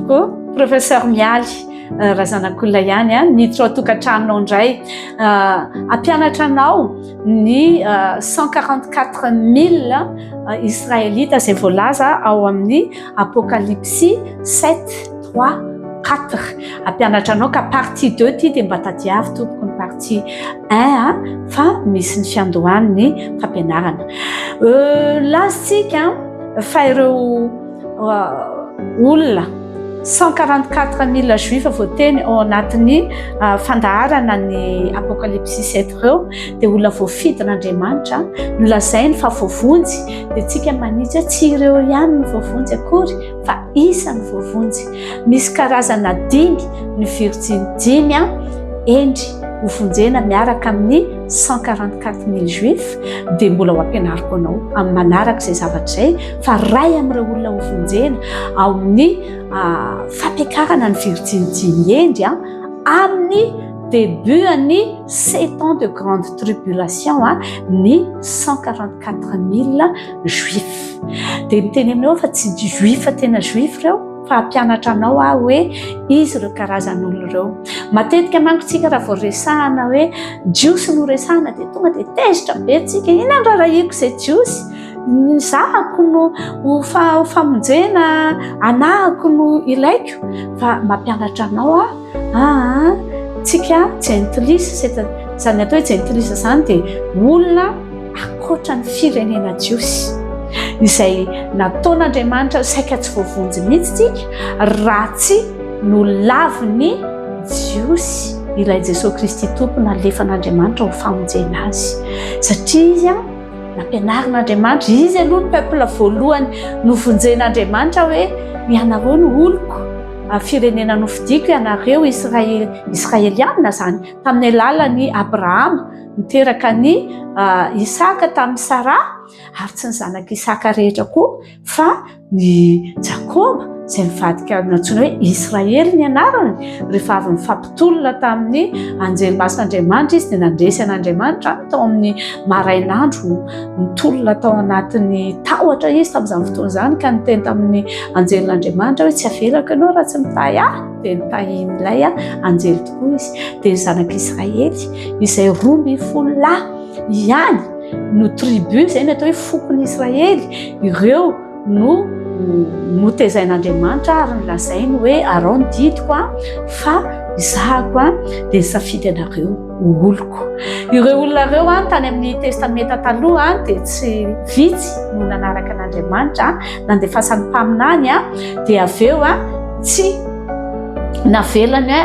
Ô, Professeur Mialy Razanakolona ihany an, miditra ao tokantranonao indray. Hampianatra anao ny 144 mille Israelita izay voalaza ao amin'ny Apokalypsy 7, 3, 4. Hampianatra anao ka partie 2 ity dia mba tadiavo tompoko ny partie 1 fa misy ny fiandohan'ny fampianarana. Lazatsika fa ireo Olona 144 mille juifs voateny ao anatin'ny ah, fandaharana ny apokalypsy sept ireo dia olona voafidin'Andriamanitra nolazainy fa voavonjy dia tsika manitsy hoe tsy ireo ihany ny voavonjy akory fa isan'ny voavonjy misy karazana dimy ny virjiny dimy a ah, endry hovonjena miaraka amin'ny 144 mille juifs dia mbola ho ampianariko anao amin'ny manaraka izay zavatra izay fa ray amin'ireo olona ho vonjena ao amin'ny fampiakarana ny virjinijiny hendry a amin'ny debutan'ny sept ans de grande tribulation a ny cent quarante quatre mille juif dia miteny aminao fa tsy juif tena juif ireo fa hampianatra anao aho hoe izy ireo karazan'olo ireo matetika manko tsika raha vao resahana hoe jiosy no resahana dia tonga dia tezitra be tsika inandrarahiko izay jiosy ny zahako no ho famonjena anahako no ilaiko fa mampianatra anao aho aa tsika jentilisa seta izany atao hoe jentilisa izany dia olona akoatra ny firenena jiosy izay nataon'andriamanitra saika tsy voavonjy mihitsy tsika raha tsy no laviny jiosy ilay jesosy kristy tompo nalefan'andriamanitra ho famonjena azy satria izy a Nampianarin'Andriamanitra izy aloha ny peuple voalohany novonjen'Andriamanitra hoe ianareo no oloko, firenena nofidiko ianareo Israely, Israeliana izany tamin'ny alalan'i Abrahama niteraka an'i Isaka tamin'i Saraha ary tsy ny zanak'i Isaka rehetra koa. Fa ny Jakoba izay nivadika nantsoina hoe Israely ny anarany, rehefa avy nifampitolona tamin'ny anjely masin'Andriamanitra izy dia nandresy an'Andriamanitra tao amin'ny marainandro, nitolona tao anatin'ny tahotra izy tamin'izany fotoana izany ka niteny tamin'ny anjelin'Andriamanitra hoe tsy avelako ianao raha tsy mitahy ahy, dia nitahian'ilay anjely tokoa izy. Dia ny zanak'Israely izay roa ambin'ny folo lahy. Ihany no tribu izay ny atao hoe fokon'i Israely, ireo no notezain'Andriamanitra ary nolazainy hoe Arao ny didiko fa izahako dia nisafidy anareo ho oloko. Ireo olona ireo tany amin'ny Testamenta Taloha dia tsy vitsy no nanaraka an'Andriamanitra, nandefasany mpaminany dia avy eo tsy navelany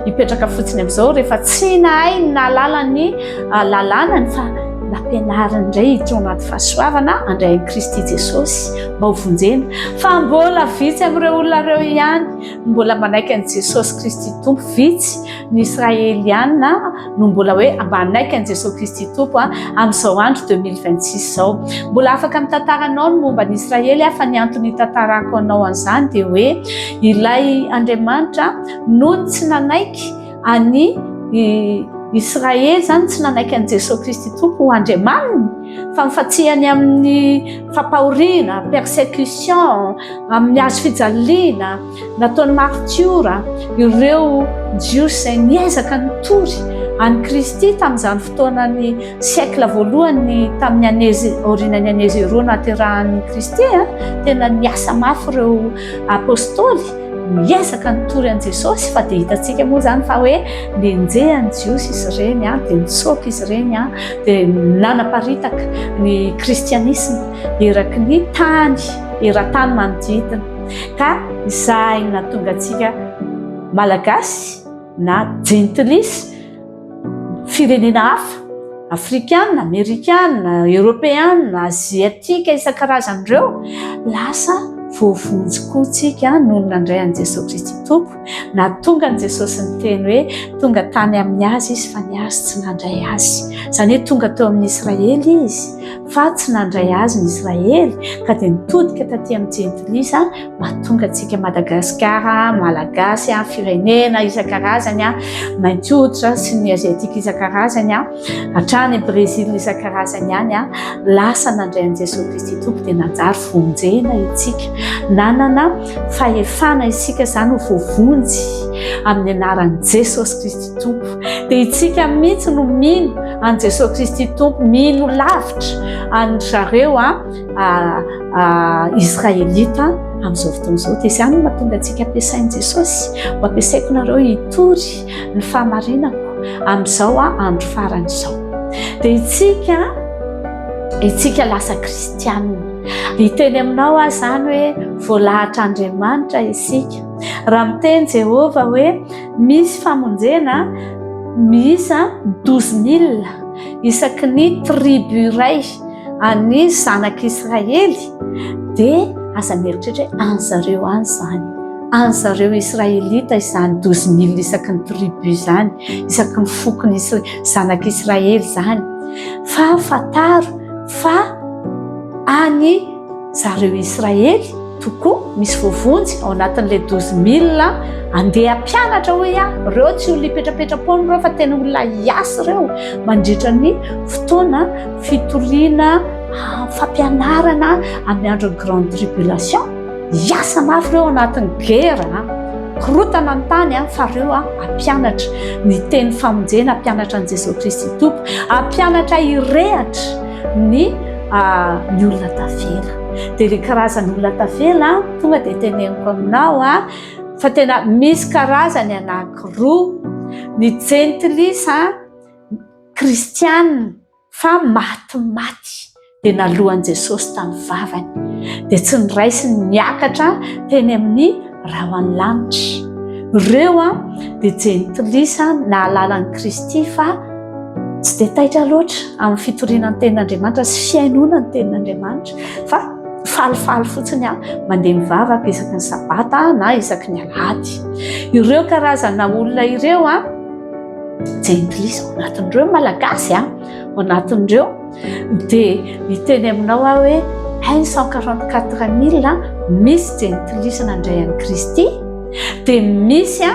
Hipetraka fotsiny amin'izao rehefa tsy nahay ny nahalala ny ah, lalànany fa nampianariny indray ity anaty fahasoavana andray an'i Kristy Jesosy mba ho vonjena. Fa mbola vitsy amin'ireo olona ireo ihany mbola manaiky an'i Jesosy Kristy Tompo. Vitsy ny Israeliana no mbola hoe mba hanaiky an'i Jesosy Kristy Tompo ah, amin'izao andro 2026 izao. Mbola afaka mitantara anao ny momba ny Israely aho fa ny antony hitantarako anao an'izany dia hoe ilay Andriamanitra noho ny tsy nanaiky an'i Israely izany tsy nanaiky an'i Jesosy Kristy Tompo ho Andriamaniny fa mifatsihany amin'ny fampahoriana, persécution, amin'ny hazo fijaliana, nataon'ny martiora ireo Jiosy izay niezaka nitory an'i Kristy tamin'izany fotoanan'ny siècle voalohany tamin'ny anezy aorianan'ny anezy roa naterahan'i Kristy, tena niasa mafy ireo apostoly. miezaka nitory an'i Jesosy fa dia hitantsika moa izany fa hoe nenjehan'ny Jiosy izy ireny an, dia nitsoaka izy ireny an, dia nanaparitaka ny kristianisma eraky ny tany eran-tany manodidina ka izay natonga antsika malagasy na jentilisa firenena hafa, afrikana, amerikana, eoropeana, aziatika isan-karazany ireo, lasa voavonjy koa tsika nony nandray an'i Jesosy Kristy Tompo, na tonga an'i Jesosy niteny hoe tonga tany amin'ny azy izy fa ny azy tsy nandray azy. Izany hoe tonga teo amin'ny Israely izy fa tsy nandray azy ny Israely ka dia nitodika taty amin'ny jentilisa mahatonga antsika Madagasikara, Malagasy, firenena isan-karazany, mainty hoditra sy ny Aziatika isan-karazany, hatrany Brezila isan-karazany any, lasa nandray an'i Jesoa Kristy Tompo dia nanjary vonjena isika. Nanana fahefana isika izany ho voavonjy amin'ny anaran'i Jesosy Kristy Tompo. Dia isika mihitsy no mino an'i Jesosy Kristy Tompo, mino lavitra an'i zareo. Israelita amin'izao fotoana izao. Dia izany no mahatonga antsika ampiasain'i Jesosy. Ho ampiasaiko nareo hitory ny fahamarinako amin'izao andro farany izao. Dia itsika, itsika lasa kristianina. Hiteny aminao aho izany hoe voalahatra Andriamanitra isika. Raha miteny Jehovah hoe misy famonjena miisa douze mille isaky ny tribu iray. An'ny zanak'Israely dia aza mieritreritra hoe any zareo any izany. Any zareo Israelita izany, douze mille isaky ny tribu izany, isaky ny fokony Isra- zanak'Israely izany. Fa fantaro fa any Zareo Israely tokoa misy voavonjy ao anatin'ilay douze mille andeha mpianatra hoe ah reo tsy olona ipetrapetra-poana ireo fa tena olona hiasa ireo mandritra ny fotoana fitoriana ah, fampianarana amin'ny andron'ny grande tribulation hiasa mafy ireo anatin'ny gera ah. korotana ny tany a ah, fa reo a ampianatra ny teny famonjena ampianatra an'i jesosy kristy tompo ampianatra irehatra ny ny olona tavela dia ilay karazan'ny olona tavela tonga dia teneniko aminao a fa tena misy karazany anankiroa ny jentilisa kristianina fa maty maty dia nalohan'i Jesosy tamin'ny vavany dia tsy niraisiny niakatra teny amin'ny raha ho any lanitra ireo a dia jentilisa nahalala an'i kristy fa tsy dia taitra loatra amin'ny fitoriana ny tenin'andriamanitra sy fiainoana ny tenin'andriamanitra fa falifaly fotsiny a mandeha mivavaka isaky ny sabata na isaky ny alady ireo karazana olona ireo a jentilisa ao anatin'ireo malagasy a ao anatin'ireo Dia hiteny aminao aho hoe, Ein cent quarante quatre mille, misy jentilisa nandray an'i Kristy, dia misy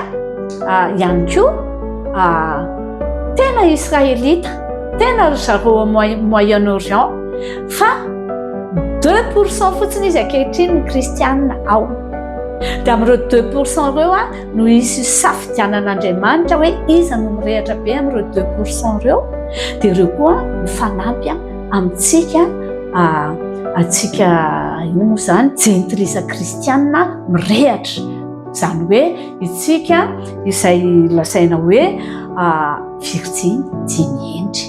ihany koa tena Israelita, tena ry zareo ao Moyen Orient, fa deux pour cent fotsiny izy ankehitriny ny Kristianina ao. Dia amin'ireo deux pour cent ireo, no hisy hisafidianan'Andriamanitra hoe iza no mirehatra be amin'ireo deux pour cent ireo dia ireo koa ho fanampy amintsika atsika ino moa izany jentilisa kristianina mirehatra izany hoe itsika izay lazaina hoe virjiny dimy endry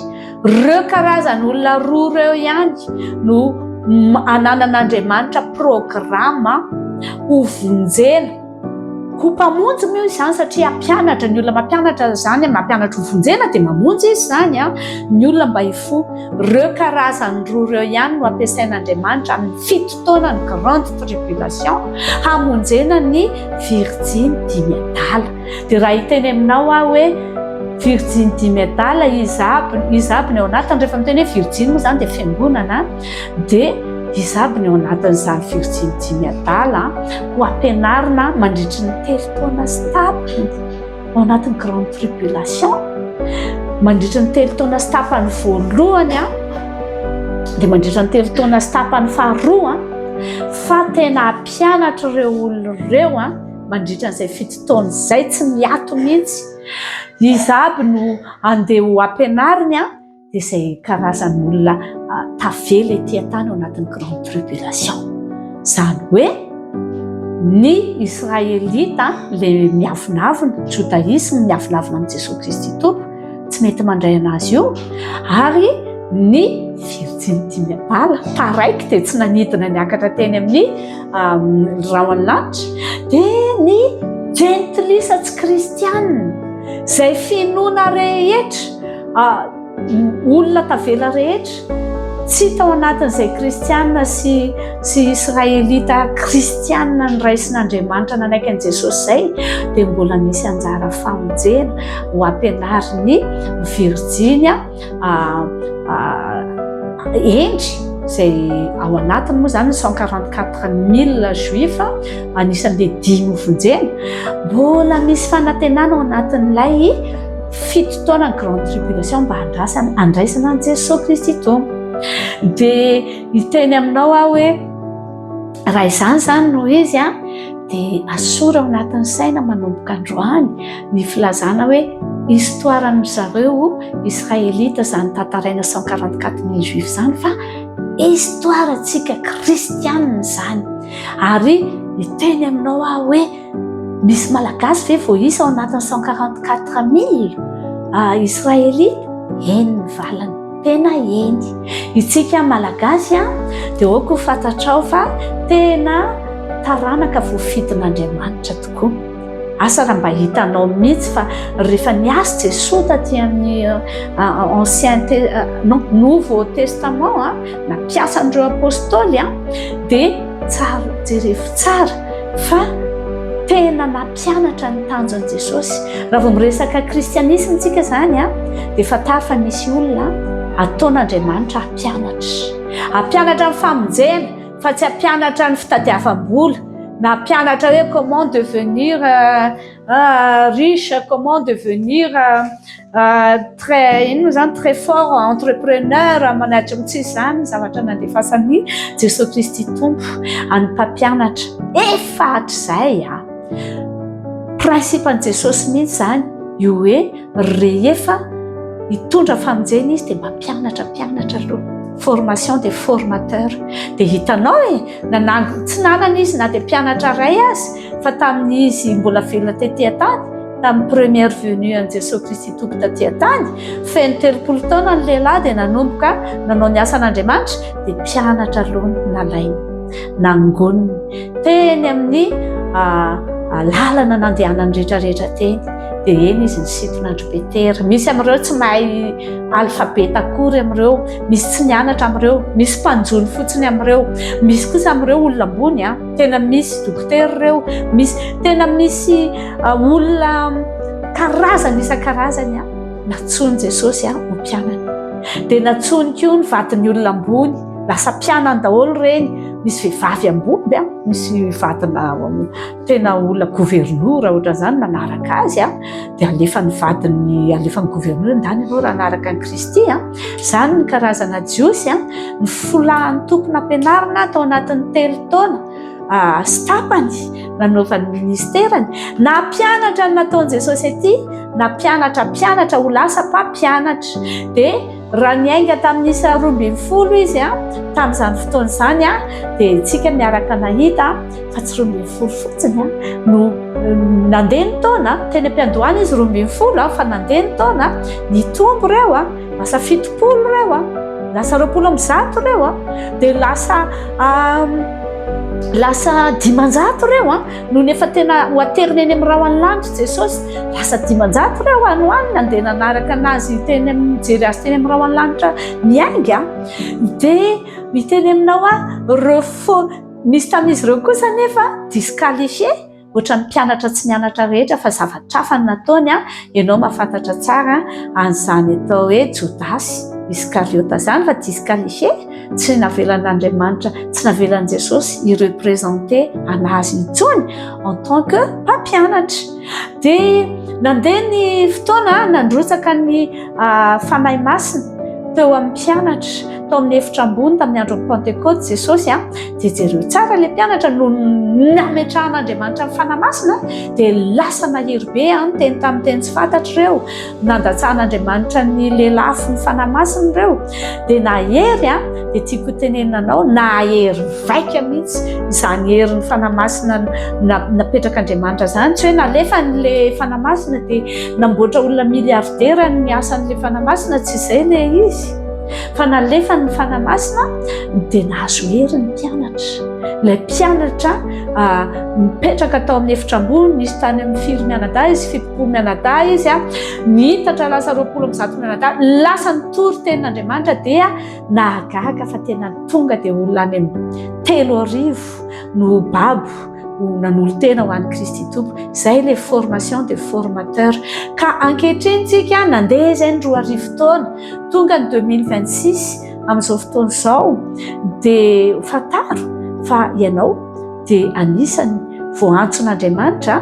ireo karazany olona roa ireo ihany no ananan'Andriamanitra programa hovonjena Ho mpamonjy moa izany satria hampianatra ny olona mampianatra izany, mampianatra ho vonjena dia mamonjy izy izany an, ny olona mba hifoha. Ireo karazany roa ireo ihany no ampiasain'Andriamanitra amin'ny fito taona ny grande tribulation hamonjena ny virjiny dimy adala. Dia raha hiteny aminao aho hoe virjiny dimy adala izy aby, izy aby ny ao anatiny rehefa miteny hoe virjiny moa izany dia fiangonana. dia izy aby ny ao anatin'izany fiotsiany dimy adala ho ampianarina mandritry ny telo taona sy tapany ao anatin'ny grande tribulation mandritry ny telo taona sy tapany voalohany a dia mandritry ny telo taona sy tapany faharoa fa tena ampianatra ireo olona ireo a mandritry an'izay fito taona izay tsy miato mihitsy izy aby no andeha ho ampianariny a dia izay karazan'olona tavela ety an-tany ao anatin'ny grande tribulation. Izany hoe ny Israelita ilay miavonavona, jodaisme miavonavona amin'i Jesoa Kristy Tompo, tsy mety mandray an'azy io, ary ny virjinity bala, taraiky dia tsy nanidina niakatra teny amin'ny rahon'ny lanitra, dia ny jentilisa tsy kristianina, izay finoana rehetra, olona tavela rehetra tsy tao anatin'izay kristianina sy sy israelita kristianina nyraisin'andriamanitra nanaiky an'i jesosy zay dia mbola misy anjara famonjena ho ampianariny virjinya endry zay ao anatiny moa zany cent quarante quatre mille juif anisan'le dimy vonjena mbola misy fanatenana ao anatin'ilay fito taona ny grande tribulation mba andrasana andraisana an'i jesosy kristy tompo dia hiteny aminao aho hoe raha izany izany no izy a dia asora ao anatin'ny saina manomboka androany ny filazana hoe histoiran'ny zareo israelita izany tantaraina cent quarante quatre mille juif izany fa histoirantsika kristianina izany ary hiteny aminao aho hoe Misy Malagasy ve voaisa ao anatin'ny cent quarante quatre mille Israelita? Eny ny valiny, tena eny. Isika Malagasy dia aoka ho fantatrao fa tena taranaka voafidin'Andriamanitra tokoa. Asa raha mba hitanao mihitsy fa rehefa niasy Jesoa taty amin'ny ancien non nouveau testament, na mpiasan'ireo apôstôly dia tsara jerefo tsara fa tena nampianatra ny tanjon'i Jesosy. Raha vao miresaka kristianisme tsika izany a dia fantaro fa misy olona ataon'Andriamanitra hampianatra. Hampianatra ny famonjena fa tsy hampianatra ny fitadiavam-bola na hampianatra hoe comment devenir euh, Ah, riche, comment devenir très, inona izany, très fort entrepreneur, manatra amin'ny tsisy izany zavatra nandefasan'i Jesoa Kristy Tompo an'ny mpampianatra. Efa hatrizay a! Principe-n'i Jesosy mihitsy izany, io hoe rehefa hitondra famonjena izy dia mampianatra, mpianatra aloha. Formation des formateurs. Dia hitanao e, nanango, tsy nanana izy na dia mpianatra iray aza. Fa tamin'izy mbola velona tety an-tany, tamin'ny première venue an'i Jesoa Kristy Tompo taty an-tany, feno telopolo taona ny lehilahy dia nanomboka nanao ny asan'Andriamanitra, dia mpianatra aloha no nalainy, nangoniny teny amin'ny lalana nandehanany rehetrarehetra teny, dia eny izy nisintona an-dry Petera. Misy amin'ireo tsy mahay alphabet akory amin'ireo, misy tsy nianatra amin'ireo, misy mpanjono fotsiny amin'ireo, misy kosa amin'ireo olona ambony an. Tena misy dokotera ireo, misy tena misy olona karazany isan-karazany a. Natsoin'i Jesosy a ho mpianany. Dia natsoiny koa ny vadin'ny olona ambony, lasa mpianany daholo ireny. Misy vehivavy ambomby a, misy vadina tena olona governora ohatran'izany manaraka azy a. dia alefan'ny vadiny alefan'ny gouverneur ndany ianao raha anaraka an'i Kristy a izany ny karazana jiosy a ny folahan'ny toko nampianarina tao anatin'ny telo taona sy tapany nanaovan'ny ministerany nampianatra ny nataon'i Jesosy aty nampianatra mpianatra ho lasa mpampianatra dia Raha niainga tamin'ny isa roa ambin'ny folo izy tamin'izany fotoana izany dia isika miaraka nahita fa tsy roa ambin'ny folo fotsiny no nandeha ny taona teny am-piandohana izy roa ambin'ny folo fa nandeha ny taona nitombo ireo a lasa fitopolo ireo a lasa roapolo amin'ny zato ireo a dia lasa lasa dimanjato ireo a Nony efa tena ho aterina eny amin'ny rahon'ny lanitra Jesosy, lasa dimanjato ireo any any nandeha nanaraka anazy teny amin'ny jery azy teny amin'ny rahon'ny lanitra miainga. Dia miteny aminao a, ireo fo nisy tamin'izy ireo kosa nefa disqualifié ohatran'ny mpianatra tsy nianatra rehetra fa zavatra hafa no nataony a, ianao mahafantatra tsara an'izany atao hoe Jodasy Iskariota izany fa disqualifié. Tsy navelan'Andriamanitra, tsy navelan'i Jesosy hi-representer an'azy intsony en tant que mpampianatra. Dia nandeha ny fotoana, nandrotsaka ny ah, Fanahy Masina teo amin'ny mpianatra, tao amin'ny efitra ambony tamin'ny andron'ny Pantekoty Jesosy an, ah. dia jereo tsara ilay mpianatra no nametrahan'Andriamanitra ny Fanahy Masina, dia lasa nahery be an, ah, teny tamin'ny teny tsy fantatr'ireo. nandatsahan'Andriamanitra ny lelafo ny fanahy masina ireo dia nahery a dia tiako hotenenina anao nahery vaika mihitsy izany herin'ny fanahy masina napetrak'Andriamanitra izany tsy hoe nalefany le fanahy masina dia namboatra olona miliaridera ny asan'le fanahy masina tsy izay le izy fa nalefany ny fanahy masina dia nahazo hery ny mpianatra ilay mpianatra ah, mipetraka tao amin'ny efitra ambony nisy tany amin'ny firy mianadahy izy fitopolo mianadahy izy a ah, nihitatra lasa roapolo amin'ny zato mianadahy lasa nitory tenin'andriamanitra dia nahagaga fa tena tonga dia olona any amin'ny telo arivo no babo nanolo tena ho an'i kristy tompo izay le formation de formateur ka ankehitriny tsika nandeha izay ny roa arivo taona Tonga ny 2026 amin'izao fotoana izao dia fantaro fa ianao dia anisan'ny voantson'Andriamanitra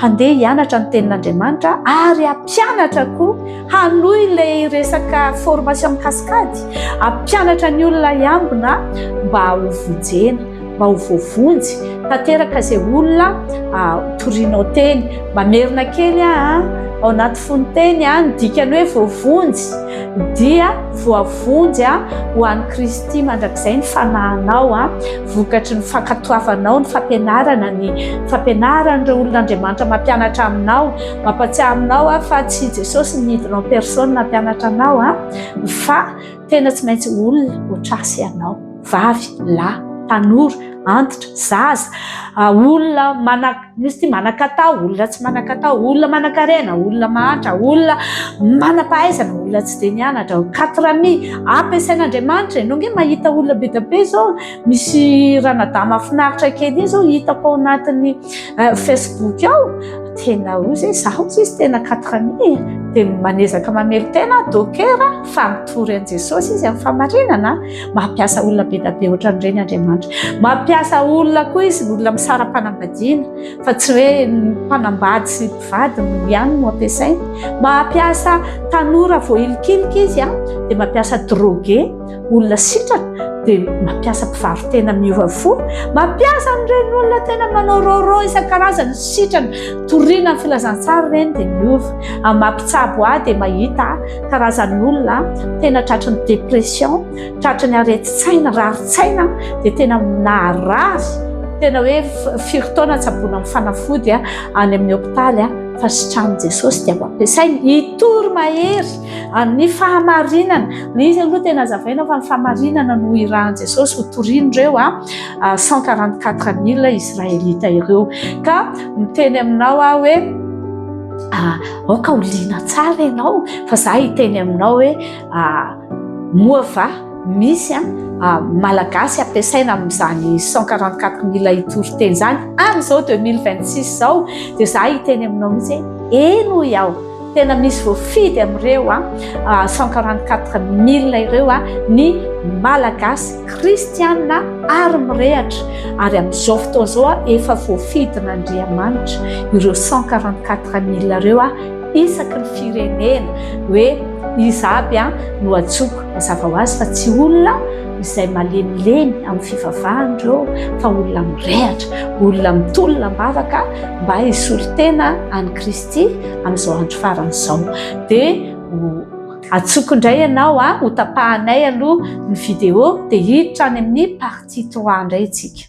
handeha hianatra ny tenin'Andriamanitra ary hampianatra koa hanohy ilay resaka formation cascade, hampianatra ny olona hiambina mba ho vonjena. mba ho voavonjy tanteraka izay olona torinao teny. Mamerina kely aho ao anaty fonteny aho ny dikany hoe voavonjy dia voavonjy aho ho an'i Kristy mandrakizay ny fanahinao aho vokatry ny fankatoavanao ny fampianarana ny fampianaran'ireo olon'Andriamanitra mampianatra aminao mampatsiahy aminao aho fa tsy Jesosy nidina en personne nampianatra anao aho fa Tena tsy maintsy olona otrasy ianao, vavy, lahy, tanora, antitra, zaza, olona mana, misy ty manakatao, olona tsy manakatao, olona manakarena, olona mahantra, olona manapahaizana, olona tsy dia nianatra, quatre ami, ampiasain'Andriamanitra ianao nge mahita olona be dia be zao, misy ranadahy mahafinaritra kely iny zao hitako ao anatin'ny euh, facebook ao tena o zay zaho tsy izy tena katrami dia manezaka mamelo tena dokera fa mitory an'i jesosy izy amin'ny famarinana mampiasa olona be dabe ohatra nyreny andriamanitra mampiasa olona koa izy olona misara-panambadiana fa tsy hoe mpanambady sy mpivady no ihany no ampiasainy mampiasa tanora voahilikilika izy a dia mampiasa droge olona sitrana dia mampiasa mpivaro-tena miova fo, mampiasa an'ireny olona tena manao rôrô isan-karazany sitrana, toriana ny filazantsara ireny dia miova, amin'ny mampitsabo ahy dia mahita karazan'ny olona tena tratry ny dépression, tratry ny aretin-tsaina, rarin-tsaina dia tena naharary, tena hoe firy taona tsaboina amin'ny fanafody any amin'ny hôpitaly fa sitranin'i Jesôsy dia ampiasainy hitory mahery. Ary ny fahamarinana, ilay izy aloha tena azavaina fa ny fahamarinana no irahan'i Jesosy ho torin'ireo 144 mille Israelita ireo. Ka miteny aminao aho hoe ah, aoka ho liana tsara ianao fa za hiteny aminao hoe ah, moa va misy an ah, malagasy ampiasaina amin'izany 144 mille hitory teny izany amin'izao 2026 izao dia za hiteny aminao mihitsy hoe eny hoy aho Tena misy voafidy amin'ireo a 144000 ireo a ny Malagasy kristianina ary mirehatra ary amin'izao fotoana izao a efa voafidin'Andriamanitra ireo 144000 ireo a isaky ny firenena hoe iza aby a no ajoko mazava ho azy fa tsy olona izay malemilemy amin'ny fivavahana ireo fa olona mirehatra olona mitolona am-bavaka mba hisolo tena an'i Kristy Kristy amin'izao andro farany izao. Dia atsoko indray ianao, ho tapahanay aloha ny vidéo, dia hiditra any amin'ny partie trois indray isika.